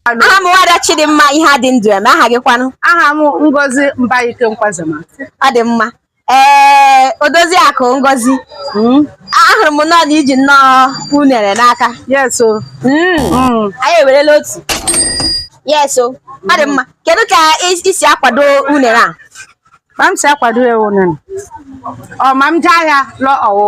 aha m nwada Chidimma Iheadịndụeme aha gị kwanụ aha m Ngozi Mbaike Nkwazema ọ dị mma ee eh, odozi akụ Ngozi hmm? ahụrụ m nnọọ na i ji nnọọ unere n'aka yes o hmm. Hmm. anyị ewerela otu yes o ọ dị mma kedu ka i si akwado unere a ma m si akwado ya unere ọ ma m jee ahịa lụọ ọwụ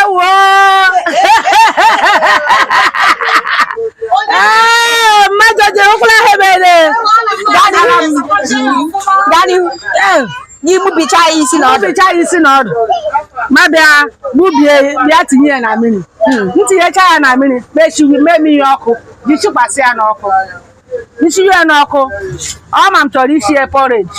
ewo ee mmadụ ji ụkwụla ha ebere m gbubicha ya isi na ọdụ ya isi na ọdụ m abịa gbubie bịa tinye ya na mmiri m tinyecha ya na mmiri mechiwi mee mmiri ọkụ ji sikwasị ya n'ọkụ nchiri ya n'ọkụ ọ ma m chọrọ isi ya porridge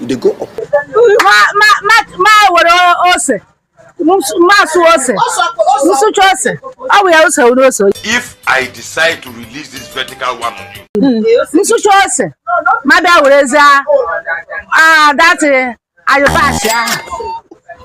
you dey go up. ma ma ma ma were ose m asụ ose m sụcha ose ọ bụ ya ose were ose. if i decide to release this vertical one on you. Hmm. m sụcha ose m abịa werezie ah that ayọbasị ahụ.